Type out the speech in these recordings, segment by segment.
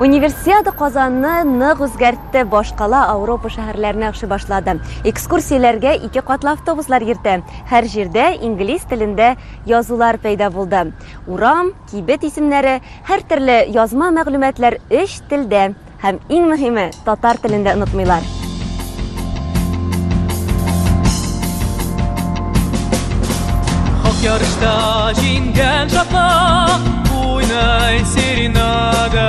Универсиада Казанны нык үзгәртте, башкала Ауропа шәһәрләренә акшы башлады. Экскурсияләргә ике катлы автобуслар йөртә. Һәр җирдә инглиз телендә язулар пәйда булды. Урам, Кибет исемнәре, һәртөрле язма мәгълүматлар өч телдә һәм, иң мөһиме, татар телендә онытмыйлар. Хак ярышта җиңгән чакта, уйнай серенада.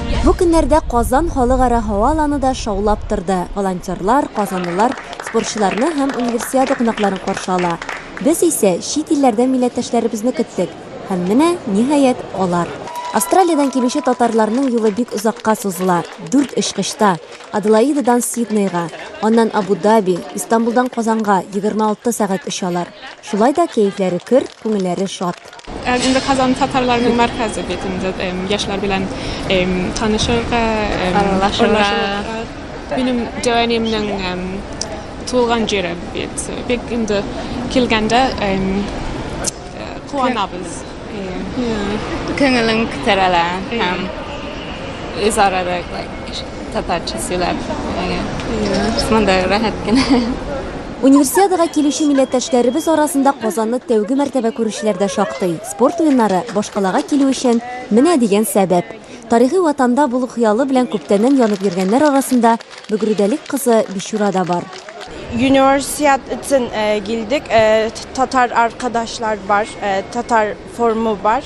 Бу көннәрдә Казан халыкара һава аланы да шаулап торды, волонтерлар, казанлылар спортчыларны һәм Универсиада кунакларын каршы ала. Без исә чит илләрдән милләттәшләребезне көттек, һәм менә, ниһаять, алар. Австралиядән килүче татарларның юлы бик озакка сузыла, дүрт очкычта, Аделаидадан Сиднейга, аннан Абу-Даби, Истанбулдан Казанга егерме алты сәгать очалар. Шулай да кәефләре көр, күңелләре шат. Инде Казан татарларының мәркәзе бит инде яшьләр белән танышырга, аралашырга. Минем җәнинемнең туган җире бит. Бик инде килгәндә куанабыз. Күңелең күтәрелә һәм үзара да татарча сөйләп, мондый рәхәт кенә. Универсиадага килүче милләттәшләребез арасында Казанны тәүге мәртәбә күрүчеләр дә шактый. Спорт уеннары башкалага килү өчен менә дигән сәбәп. Тарихи Ватанда булу хыялы белән күптәннән янып йөргәннәр арасында Бөгрүдәлек кызы Бичура да бар. Юниорсиад өчен килдек, татар аркадашлар бар, татар формы бар.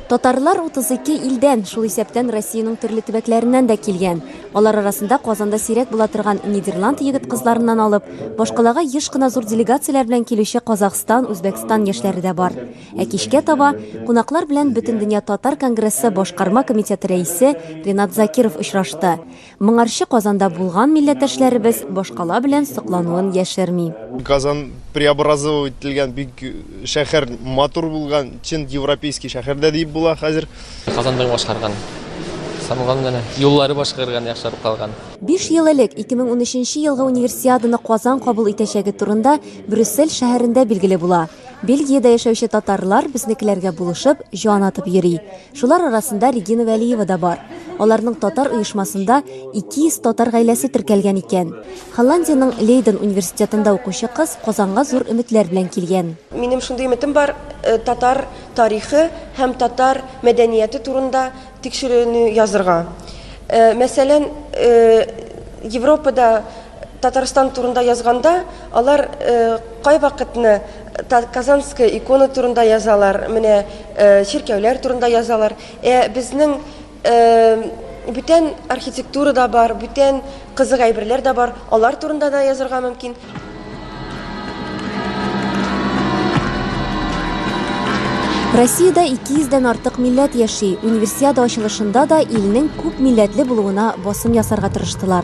Татарлар 32 илдән, шул исәптән Россиянең төрле төбәкләреннән дә килгән. Алар арасында Казанда сирәк була торган Нидерланд егет-кызларыннан алып, башкалага еш кына зур делегацияләр белән килүче Казахстан, Үзбәкстан яшьләре дә бар. Ә кичкә таба кунаклар белән Бөтендөнья татар конгрессы башкарма комитеты рәисе Ренат Закиров очрашты. Моңарчы Казанда булган милләттәшләребез башкала белән соклануын яшерми. Казан преобразовау ителгән бик шәһәр, матур булган, чын европейский шәһәр дә диеп була хәзер. Казанның башкарган, самогон гына, юллары башкарган, яхшырып калган. Биш ел элек 2013 елгы Универсиаданы Казан кабул итәчәге турында Брюссель шәһәрендә билгеле була. Бельгиядә яшәүче татарлар безнекеләргә булышып, җан атып йөри. Шулар арасында Регина Вәлиева да бар. Аларның татар оешмасында 200 татар гаиләсе теркәлгән икән. Холландиянең Лейден университетында укучы кыз Казанга зур өметләр белән килгән. Минем шундый өметем бар, татар тарихы һәм татар мәдәнияте турында тикшеренү язырга. Мәсәлән, Европада, Татарстан турында язганда, алар кайвакытны Казанская икона турында язалар, менә чиркәүләр турында язалар. Ә безнең бүтән архитектура да бар, бүтән кызык әйберләр дә бар, алар турында да язырга мөмкин. Россиядә 200 дән артык милләт яши, Универсиада ачылышында да илнең күп милләтле булуына басым ясарга тырыштылар.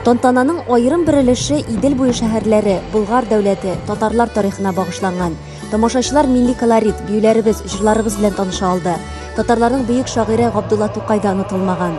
Тантананың аерым бер өлеше Идел буе шәһәрләре, Болгар дәүләте, татарлар тарихына багышланган. Тамашачылар милли колорит, биюләребез, җырларыбыз белән таныша алды. Татарларның бөек шагыйре Габдулла Тукай да онытылмаган.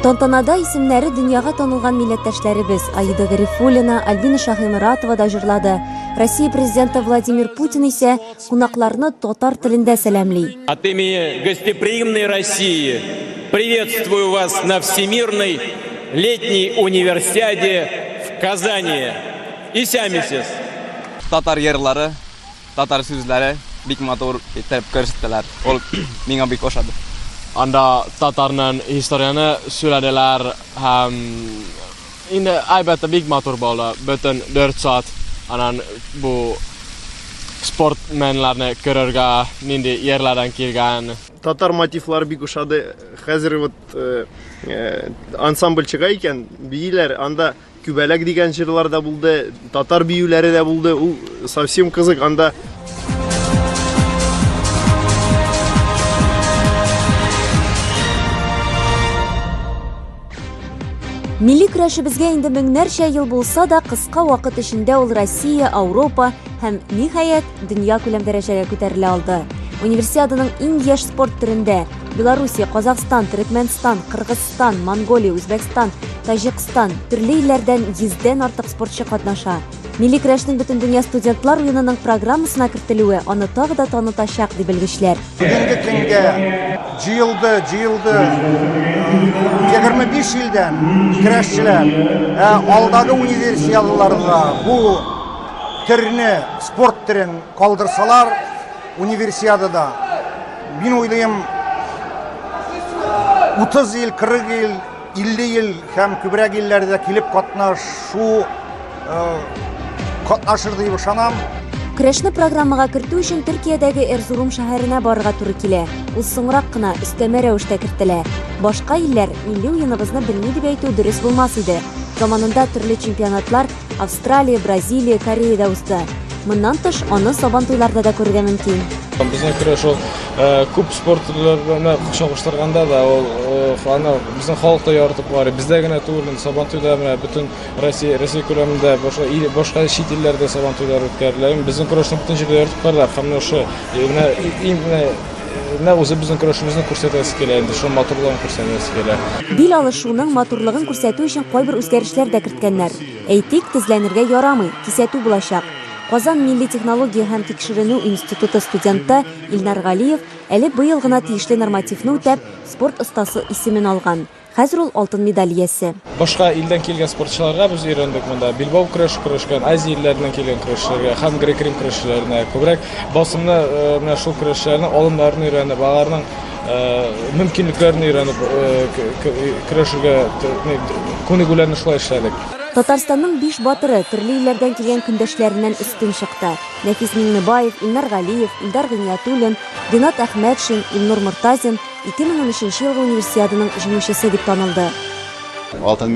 Тантанада исемнәре дөньяга танылган милләттәшләребез Аида Гарифуллина, Альбина Шаһиморатова да җырлады. Россия президенты Владимир Путин исә кунакларны татар телендә сәламли. От имени гостеприимной России приветствую вас на Всемирной летней универсиаде в Казани. Исәмисез! Татар йырлары Татар сүзләре бик матур итеп күрсәттеләр. Ул миңа бик ошады. Анда татарның историяне сөйләделәр һәм инде әлбәттә бик матур булды. Бөтен 4 саат аннан бу спортменнарны күрергә, нинди ерләрдән килгән. Татар мотивлары бик ошады. Хәзер вот ансамбль чыга икән, бииләр, анда Күбәләк дигән җырлар да булды, татар биюләре дә булды. Ул совсем кызык. Анда Милли көрәшебезгә инде меңнәрчә ел булса да, кыска вакыт эчендә ул Россия, Ауропа, Һәм, ниһаять, дөнья күләм дәрәҗәгә күтәрелә алды. Универсиаданың иң яшь спорт төрендә Белоруссия, Казахстан, Төрекмәнстан, Кыргызстан, Монголия, Үзбәкстан, Таҗикстан, төрле илләрдән йөздән артык спортчы катнаша. Милли көрәшнең Бөтендөнья студентлар уенының программасына кертелүе аны тагы да танытачак, ди белгечләр. Бүгенге көнгә җыелды, җыелды 25 илдән көрәшчеләр. Ә алдагы универсиадаларда бу төрне, спорт төрен калдырсалар, универсиадада, мин уйлыйм, 30 ел, 40 ел, 50 ел һәм күбрәк илләрдә килеп катнашу катнашыр дип ышанам. Көрәшне программага кертү өчен Төркиядәге Эрзурум шәһәренә барырга туры килә. Ул соңрак кына өстәмә рәвештә кертелә. Башка илләр милли уеныбызны белми дип әйтү дөрес булмас иде. Заманында төрле чемпионатлар Австралия, Бразилия, Кореядә үсте. Моннан тыш, аны сабантуйларда да күрергә мөмкин. Безнең күрә шул э, күп спорт төрләренә чагыштырганда да ул э, аны безнең халык та яратып карый. Бездә генә түгел, сабантуйда менә бөтен Россия Россия күләмендә башка ил, башка чит илләрдә сабантуйлар үткәрелә. Безнең көрәшне бөтен җирдә яратып карыйлар. Һәм менә ошо менә иң менә Нәкъ үзебезнең көрәшебезне күрсәтәсе килә инде, шуның матурлыгын күрсәтәсе килә. Бил алышуның матурлыгын күрсәтү өчен кайбер үзгәрешләр дә керткәннәр. Әйтик, тезләнергә ярамый, кисәтү булачак. Казан милли технология һәм тикшеренү институты студенты Илнар Галиев әле быел гына тиешле нормативны үтәп, спорт остасы исемен алган. Хәзер ул алтын медаль иясе. Башка илдән килгән спортчыларга без өйрәндек монда. Билбау көрәше көрәшкән, Азия илләреннән килгән көрәшчеләргә һәм грек-рим көрәшчеләренә күбрәк басымны, менә шул көрәшчеләрнең алымнарын өйрәнеп, аларның мөмкинлекләрен өйрәнеп көрәшергә күнегүләрне шулай эшләдек. Татарстанның биш батыры төрле илләрдән килгән көндәшләреннән өстен чыкты. Нәфис Миңнебаев, Илнар Галиев, Илдар Гыйниятуллин, Ринат Әхмәтшин, Илнур Мортазин, 2013 елгы Универсиаданың җиңүчесе дип танылды. Алтын